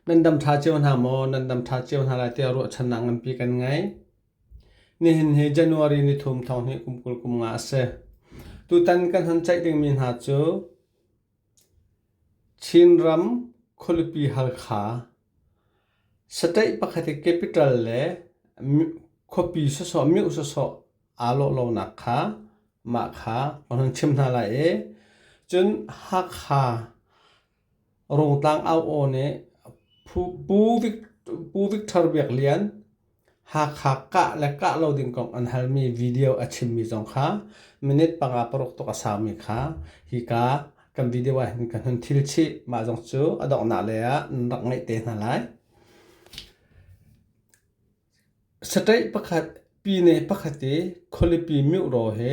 Nan dam ṭha cio hna maw? Nan dam ṭha cio hna lai tiah ruahchannak nganpi kan ngei. Nihin hi January ni thum thawng hi kum kul kum nga a si. Tutan kan han ceih dingmi hna cu Chinram khualipi Halkha, saṭeih pakhat i capital le khuapi sawsawh, miuh sawsawh aa lawhlonak kha mah kha kan hun chim hna lai i cun Hakha Rungtlang Au aw nih Pu Victor Biak Lian Hakha kah le kah lo ding kong an halmi video a chimmi zong kha minute panga paruk tuk a saumi kha hika kan video ah hin kan hun thil chih. Mah zong cu a donghnak lei ah nan rak ngeih te hna lai. Saṭaih pakhat, pi ne pakhat i khualipi miuh ro he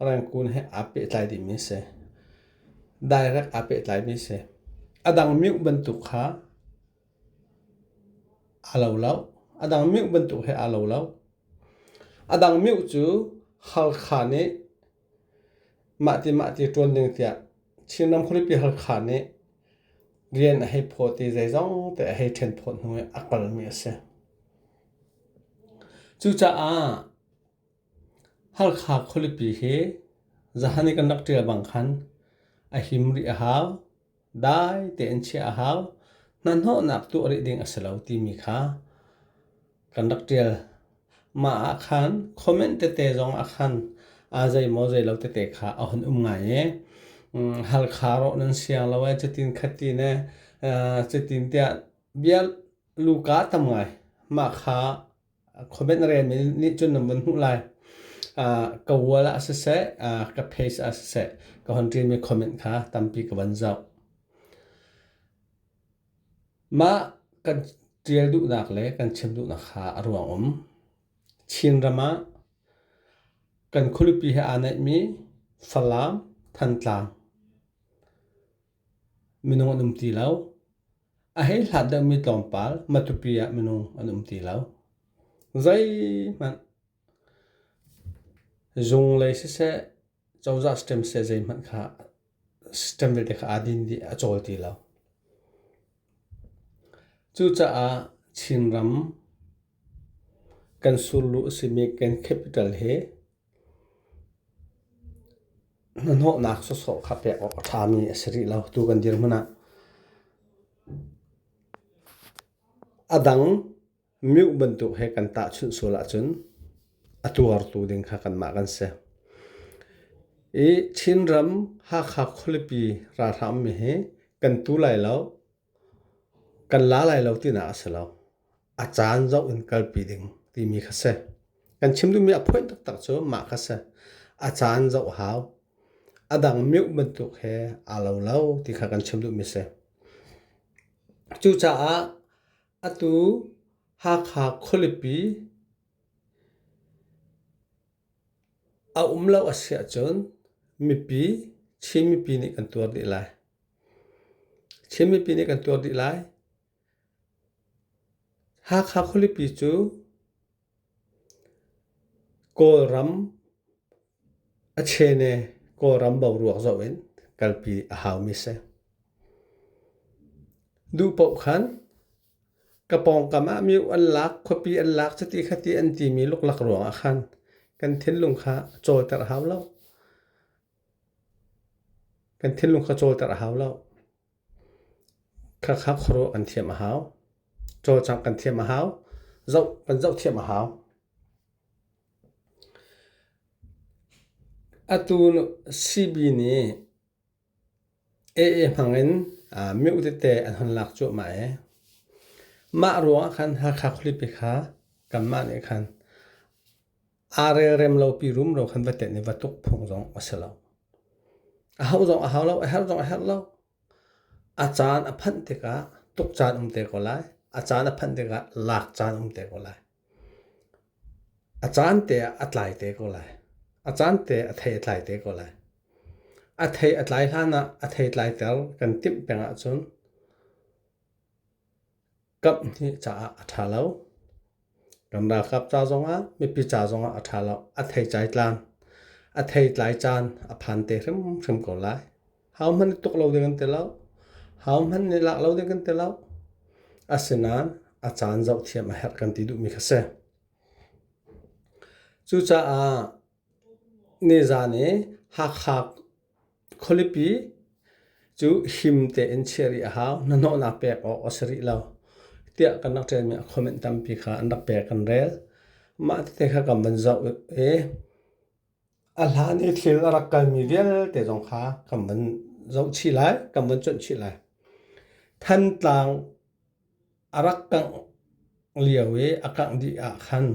Rengkun he aa pehtlai dihmi a si. Direct aa pehtlaimi a si. A dang meuh bantuk kha aa lo lo. A dang meuh bantuk he aa lo lo. A dang meuh cu Halkha nih mahti mahti ṭuan ding tiah Chinram khualipi Halkha nih rian a hei phawt i zei zongte a hei ṭhen phawt hnu i a kalmi a si. Cucaah Halkha khualipi hi zahan i kan rak ṭial bang khan a him rih a hau. Dai tein chiah a hau. Hnahnawhnak tuah rih ding a si lo timi kha kan rak ṭial. Mah ah khan comment tete zong ah khan aa zeimaw zei lo tete kha a hun um ngai i halkha rawh nan siang lo ee cutin khatin ee cutin tiah bia luka tam ngai mah kha Comment rel mi nih cun na vun hmuh lai. ka wall ah siseh, ka page ah siseh, ka hon ṭin mi comment kha tampi ka van zoh. Mah kan ṭial duhnak le kan chim duhnak kha a ruang um. Chin ram ah kan khualipi he aa naih mi Falam, Thantlang. Minung an um ti lo. A hei hlat deuhmi tlawmpal matupi ah minung an um ti lo. Zeihmanh zung lei siseh, cozah system siseh zeihmanh kha system vialte kha aa din dih, a cawl ti lo. Cucaah Chinram kan surlu a simi kan capital hi Hnahnawhnak sawsawh kha pek awk a ṭhami a si rih lo tu kan dirhmun ah. A dang miuk bantuk he kan tahchunh sual ahcun a tuartu ding kha kanmah kan si. I Chinram Hakha khualipi ralhrang mi hi kan tu lai lo. Kan la lai lo tinak a si lo. A caan zoh in kalpi ding timi kha si. Kan chim duhmi a phoih taktak cu mah kha si. A caan zoh hau. A dang meuh bantuk he aa lo lo ti kha kan chim duhmi si. Cucaah atu Hakha khualipi a um lo a si ahcun mipi, Chin mipi nih kan tuar dih lai. Chin mipi nih kan tuar dih lai. Hakha khualipi cu Kawlram a chene Kawlram boruak zoh in kalpi a haumi a si. Duh paoh khan ka pawngkam ah miuk an lak, khuapi an lak chiti khati an timi luklak ruangah khan kan thinlung kha a cawiter hau lo. Kan thinlung kha cawlter a hau lo. Khakha khuaruah kan thiam a hau. Cawlcang kan thiam a hau. Zoh kan zoh thiam a hau. Atu CB nih AA hmangin miu tete an hun lak cuahmah i mah ruangah khan Hakha khualipi kha kanmah nih khan aa relrem lopi rumro khan va tenh i va tuk phung zong a si lo. A hauh zong a hau lo, a herh zong a herh lo. A caan a phanh tikah tuk caan um te ko lai. A caan a phanh tikah lak caan um te ko lai. A caan te ah a tlai te ko lai. A caan te a thei a tlai te ko lai. A thei a tlai hlan ah a thei tlai ter kan timh peng ahcun Kamh hi caah a ṭha lo. Kan ralkap ca zongah, mipi ca zongah a ṭha lo. A theitlai tlan, a theitlai caan a phan te hrimhrim ko lai. Hohmanh i tuk lo ding kan ti lo. Hohmanh nih lak lo ding kan ti lo. Asinain a caan zoh thiam a herh kan ti duhmi kha si. Cucaah nizan i Hakha Khualipi cu him tein chiah rih a hau. Hnahnawhnak pek awk a si rih lo. Tiah kan rak ṭialmi a comment tampi kha an rak pek kan rel. Mah tete kha kan van zoh i a hlan i thil a rak kalmi vialte zong kha kan van zoh chih lai, kan van cuanh chih lai. Thantlang a rak kangh lio i a kangh dih ah khan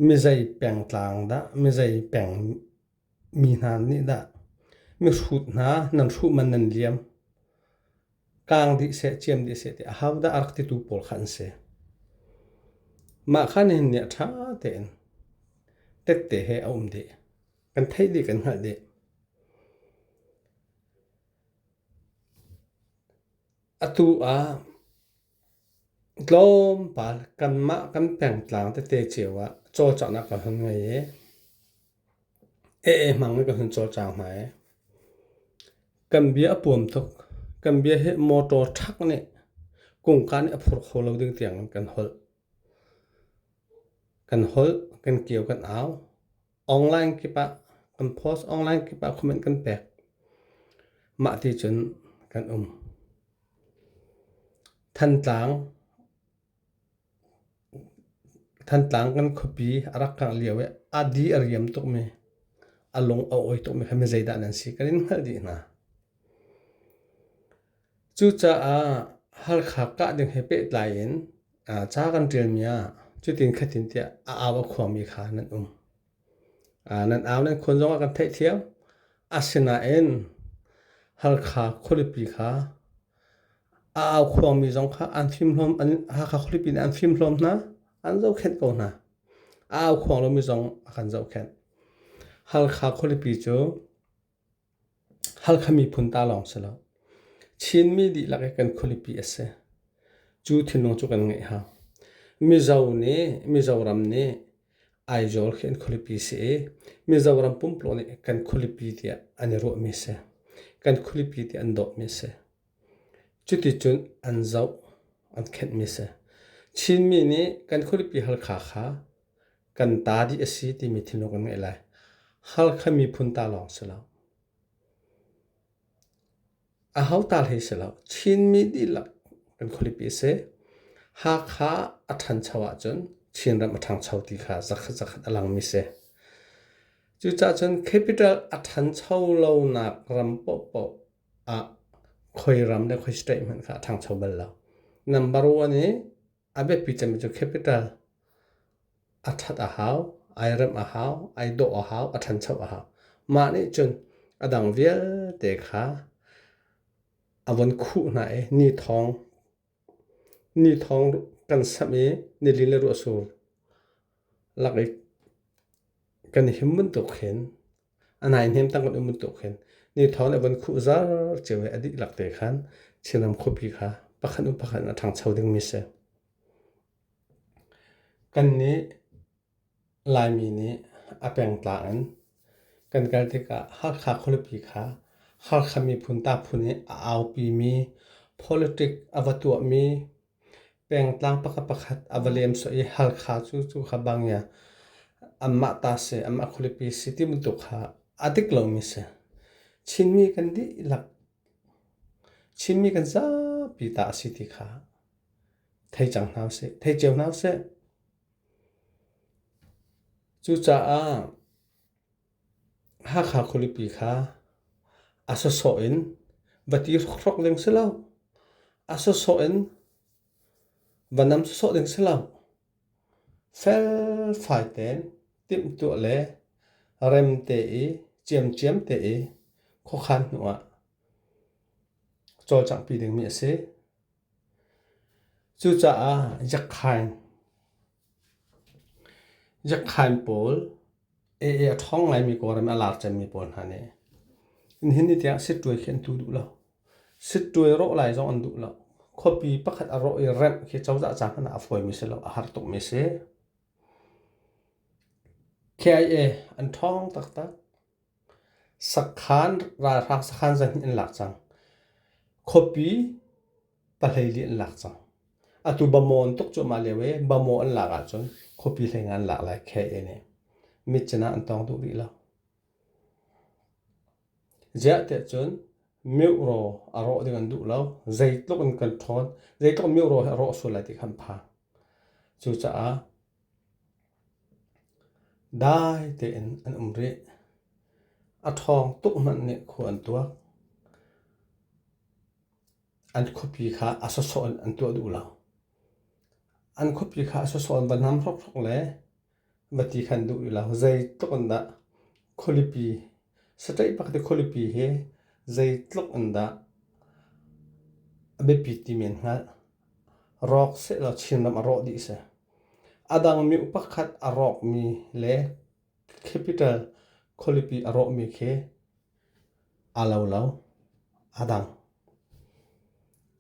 mizei pengtlang dah, mizei peng Mi hna nih dah mihrut hna nan hruh man nan liam, kaang dih seh, ciam dih seh ti ahodah a rak titu pawl kha an si. Mah kha nihin ni ah ṭha tein tette he a um dih. Kan theih dih, kan hngalh dih. Atu ah tlawmpal kanmah kan pengtlang tete cio ah cawlcanghnak kan hun ngei i Ee hmang in ka hun cawlcang hna i kan bia a puam tuk. Kan bia hi motor truck nih kungka nih a phur kho lo ding tiangin kan holh. Kan holh, kan kio, kan au. Online kip ah, kan post online kip ah comment kan pek. Mah ti cun kan um. Thantlang Thantlang kan khuapi a rak kangh lio i a di a riam tukmi, a lung a awi tukmi kha mizeidah nan si kan in hngalh dih hna. Cucaah Halkha kah ding he pehtlai in ca kan ṭialmi ah cutin khatin tiah a au a khuami kha nan um. nan au nan khuan zongah kan theihthiam. Asinain Halkha khualipi kha a au khuangmi zong kha an fimhlawm Hakha khualipi nih an fimhlawm hna an zohkhenh ko hna. A au khuang lomi zong a kan zohkhenh. Halkha khualipi cu Halkha miphun ta lawng si lo. Chinmi dihlak i kan khualipi a si. Cu thinlung cu kan ngeih hau. Mizo nih, Mizoram nih Aizawl khi an khualipi si i Mizoram pumplawng nih kan khualipi tiah an i ruahmi si. Kan khualipi tiah an dawhmi a si. Cuticun an zoh, an khenhmi a si. Chinmi nih kan khualipi Halkha kha kan ta dih a si timi thinlung kan ngeih lai. Halkha miphun ta lawng si lo. A ho ta hlei si lo. Chinmi dihlak kan khualipi a si. Hakha a ṭhancho ahcun Chinram a ṭhangcho ti kha zakhat zakhat a langmi si. Cucahcun capital a ṭhancho lonak ram paohpaoh ah khoiram le khoi straight hmanh kha a ṭhangcho bal lo. Number one i a biapi cemmi cu capital a ṭhat a hau, ai remh a hau, ai dawh a hau, a ṭhancho a hau. Mah nih cun a dang vialte kha a von khuh hna i ni thawng Ni thawng kan samh i nili le ruahsur lak i kan i him bantuk khin a nai hnem tang kan um bantuk khin ni thawng a von khuh zar cio i a dihlak te khan Chinram khuapi kha pakhat hnu pakhat in a ṭhangcho dingmi a si. Kan nih Laimi nih a pengtlang in kan kal tikah Hakha khualipi kha Halkha miphun ta phun i a aupimi politic a va tuahmi pengtlang pakhat pakhat a va lemsawh i Halkha cu cu kha bang i anmah ta si anmah khualipi si ti bantuk kha a dik lomi si. Chinmi kan dihlak Chinmi kan zapi ta a si ti kha thei cang hna usih, thei cio hna usih. Cucaah Hakha khualipi kha a sawsawh in va ti hrokhrok ding si lo, a sawsawh in va nam sawsawh ding si lo. Felfai tein timhtuah le remte i ciamciam te i khuakhan hnu ah cawlcanghpi dingmi a si. Cucaah Yakhain pawl ee a ṭhawng ngaimi Kawlram i a lar cemmi pawl hna nih nihin ni tiang sittuai khi an tlu duh lo. Sittuai rawh lai zong an duh lo. Khuapi pakhat a rawh i remh khi cozah ca hmanh ah a fawimi si lo, a har tukmi a si. KIA an ṭhawng taktak. Sakhan ralhrang sakhan zarhhnih an lak cang. Khuapi pahlei li an lak cang. Atu Bamaw tuk cu mah lio i Bamaw an lak ahcun khuapi hlei ngan lak lai KA nih. Mit cinah an tawng duh rih lo. Ziahtiah cun miuhraw a rawh ding an duh lo. Zeitluk in kan ṭhawn, zeitluk miuhraw he a rawh sual lai ti kha an phang. Cucaah Dai tein an um rih. A ṭhawng tuk hmanh nih khua an tuak. An khuapi kha a sawsawh in an tuah duh lo. An khuapi kha a sawsawh in va nam hrokhrok le va ti khan duh rih lo. Zeitluk in dah Khualipi. Satlaih bak te khualipi hi zei tluk in dah a biapi ti men hnga. Rawk sehlaw Chinram a rawh dih si. A dang mi upakhat a rawk mi le capital khualipi a rawh mi khi a lo lo. A dang.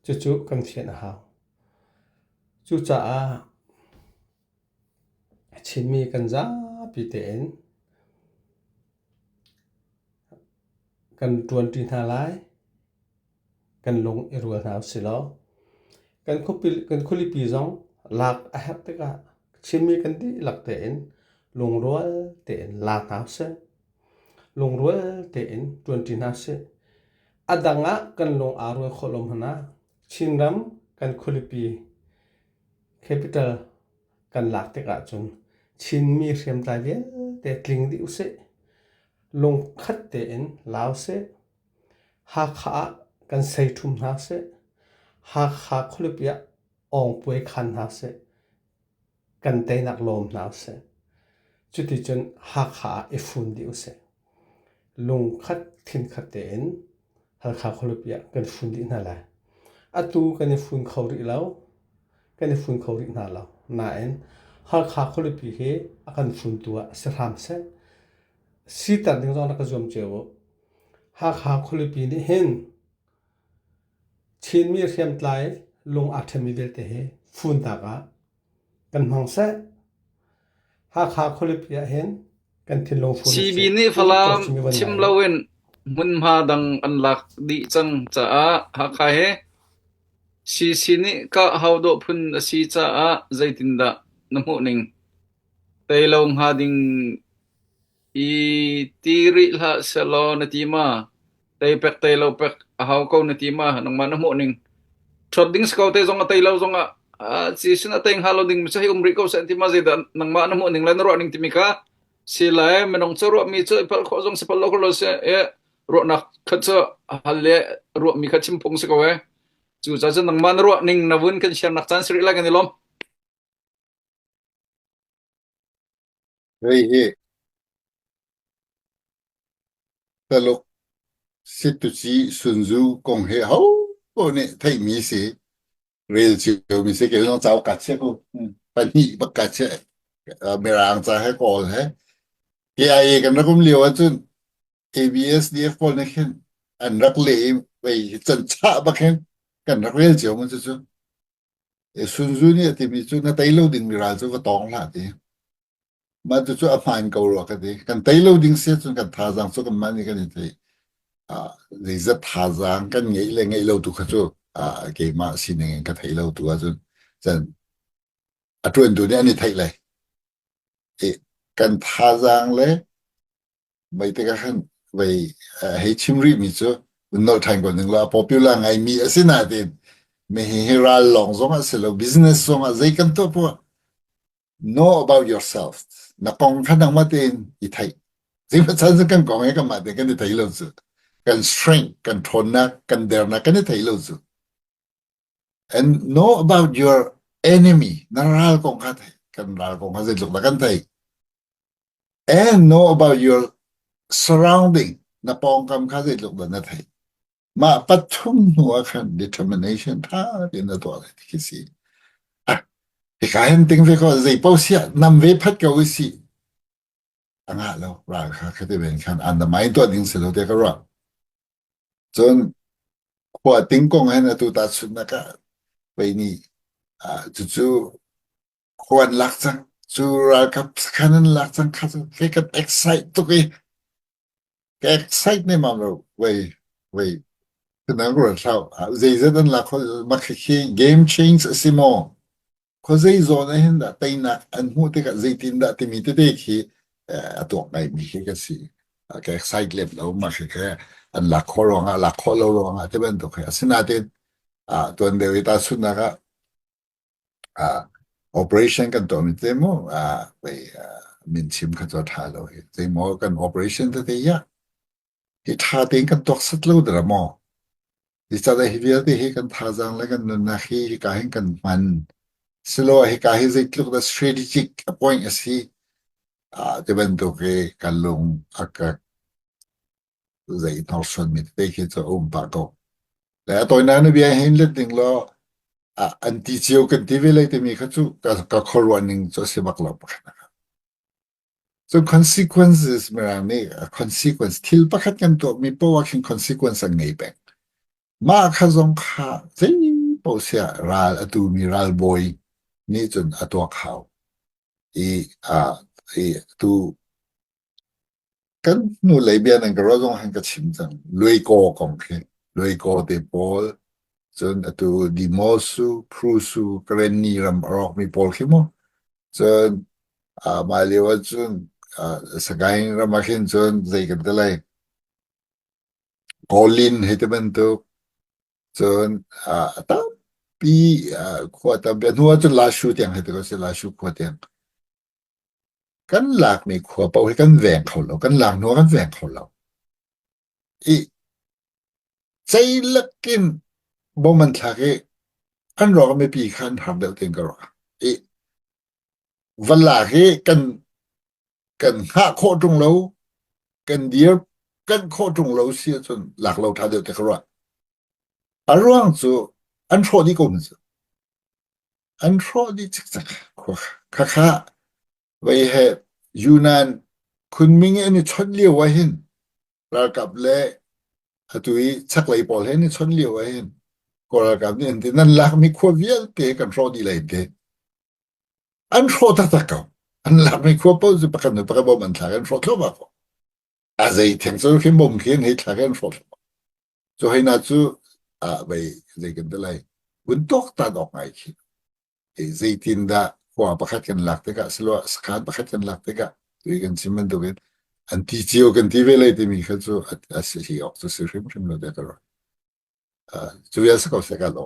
Cucu kan fian a hau. Cucaah A chimmi kan zapi tein kan ṭuanṭi hna lai. Kan lung i rual hna usih law. Kan khualipi zong lak a herh tikah chimmi kan dihlak tein lungrual tein la hna usih. Lungrual tein ṭuanṭi hna usih. A dang ah kan lung aa rual khawh lo hmanh ah Chinram kan khualipi Capital kan lak tikah cun Chinmi hriamtlai vialte tling dih usih. Lungkhat tein la usih. Hakha ah kan seithum hna usih. Hakha khualipi ah awngpuai khan hna usih. Kan teinak lawm hna usih. Cuticun Hakha ah i fun dih usih. Lungkhat, thinkhat tein Halkha khualipi ah kan fun dih hna lai. Atu kan i fun kho rih lo. Kan i fun kho rih hna lo. Nain Halkha khualipi hi a kan funtu ah si hram seh. Siter ding zong rak ka zuam cio u. Hakha khualipi nih hin Chinmi hriamtlai lung aa ṭhemmi vialte hi funtak ah kan hmang seh. Hakha khualipi ah hin kan thinlung fun CB nih Falam chim loin hmunhma dang an lak dih cang caah Hakha he CC nih kah hau dawh phun a si caah zeitindah na hmuh ning? Tei lo hnga ding I ti rih hlah sehlaw na ti ma? Tei pek tei lo pek a hau ko na ti ma? Nangmah na hmuh ning. Ṭhawt ding si ko tei zong a tei lo zongah a ci sin a tei hnga lo ding mi cu hei um rih ko seh an ti ma zeidah nangmah na hmuh ning le na ruah ning timi kha si lai minung cu ruahmi cu i pal khawh zong si pal lo lo seh e ruahnak khat cu a hal le ruahmi kha chim phung si ko e cucaah cun nangmah na ruah ning na vun kan share nak caan si rih lai kan i lawm Hei hi Taluk Sittuci Sunzu kong hi hoho nih theihmi si. Rel ciomi si. Kei zong cauk kat chiah ku. Pahnih bak kat chiah. Mirang ca he kawl he. KIA kan rakum lio ahcun ABSDF pawl nih khin an rak le i vei can chah bak hin kan rak rel cio mun cu cu. Sun Tzu nih a timi cu na tei lo dingmi ral cu va tawng hlah ti. Mah cucu a hmaan ko rua ka ti. Kan tei lo ding si ahcun kan thazaang cu kanmah nih kan i tei. Ah, zeizat thazaang kan ngeih le ngeih lo tu kha cu ah, keimah sining in ka thei lo tu ahcun cun a ṭuantu nih an i theih lai. I kan thazaang le Mei tikah khan vei hei chim rih mi cu nolh ṭhan ko ning law a popular ngai mi a si nain mehi hi ral lawng zongah si lo business zongah zei kan tuah poah know about yourself na kong kha nangmah tein i theih sihmah chan cu kan kong he kanmah tein kan i thei lo cu kan strength kan ṭhawnnak kan dernak kan i thei lo cu And know about your enemy. Na ral kong kha thei. Kan ral kong kha zeitluk dah kan thei. And know about your surrounding. Na pawngkam kha zeitluk dah na thei. Mah pathum hnu ah khan determination tha tein na tuah lai ti khi si. Ah, hi ka hen ting ve ko zei pau sia nam ve phat ka ui si. a ngah lo ral kha khati ven khan an damai tuah ding si lo te ka ruah cun khua ting kong hen atu ta sunnak ah pei ni cucu khuan lak cang cu ralkap khan an lak cang kha cu ke kan excite tuk i ke excite ne mam lo wei wei tuna ko thau zeizat an lak game change a si maw Khuazei zawn ah hin teinak an hmuh tikah zeitindah timi tete khi a tuak ngaimi khi ka si. Ka excited lo ma khi ke an lak khawh ruangah lak khawh lo ruangah ti bantuk hi. Asinain ah tuan deuh i tahchunnak ah ah operation kan tuahmi te mu ah pei min chim kha cu tha lo hi. Zeimaw kan operation tete ya hi tha tein kan tuak sat lo dara maw? Nicatah hi vialte hi kan thazaang le kan nunnak hi hika hin kan hman. Silo hika hi zeitluk dah strategic appoint asi ah ti bantuk hi kan lung a ka zei hnorsuanmi tete khi cu a um pah ko. Le a tawinak na bia hin let ding law an ti cio kan ti ve lai timi kha cu ka khuaruah ning cu a si bak lo. So consequences mirang nih a consequence thil pakhat kan tuahmi poah khin consequence an ngei peng. Mah kha zong kha zeipaoh siah ral a tumi ralbawi nih cun a tuak hau. I uh, i tu kan hnulei bia nan ka ro zong han ka chim cang luiko kong khi luiko te pawl cun atu dimosu prusu krenni ram a rawkmi pawl khi mu cun Ah, mah lio ah cun ah, Sagaing ram ah khin cun zei kan ti lai, Colin hei ti bantuk cun ah, a tampi ah, khua tampi, a hnu ah cun Lashu tiang hei ti ko si, Lashu khua tiang. Kan lakmi khua paoh hi kan veng kho lo, kan lak hnu ah kan veng kho lo. i ceilak in bawm an thlak i an ruangah mipi kha an harm deuh tiin ka ruah. I van lak hi kan kan hngah khawh ṭung lo, kan dir kan khawh ṭung lo si ahcun lak lo ṭha deuh te ka ruah. A ruang cu an hrawh dih ko maw cu? An hrawh dih cikcak khua. Khakha Vei he Yunan khunming in i chawnh lio ah hin ralkap le atu i chaklei pawl he in i chawnh lio ah hin Kawl ralkap nih an ti nan lakmi khua vialte kan hrawh dih lai ke an hrawh taktak ko an lakmi khua paoh cu pakhat le pakhat bom an thlak an hrawh thluahmah ko a zei theng cu khi bom khi an hei thlak i an hrawh thluahmah Cu haina cu vei zei kan ti lai vun tuaktan awk ngai khi zeitin dah khua pakhat kan lak tikah siloah sakhan pakhat kan lak tikah tui kan chim bantukin an ti cio kan ti ve lai timi kha cu a si hi awk cu si hrimhrim lo dek ro cu ya sa ko se ka lo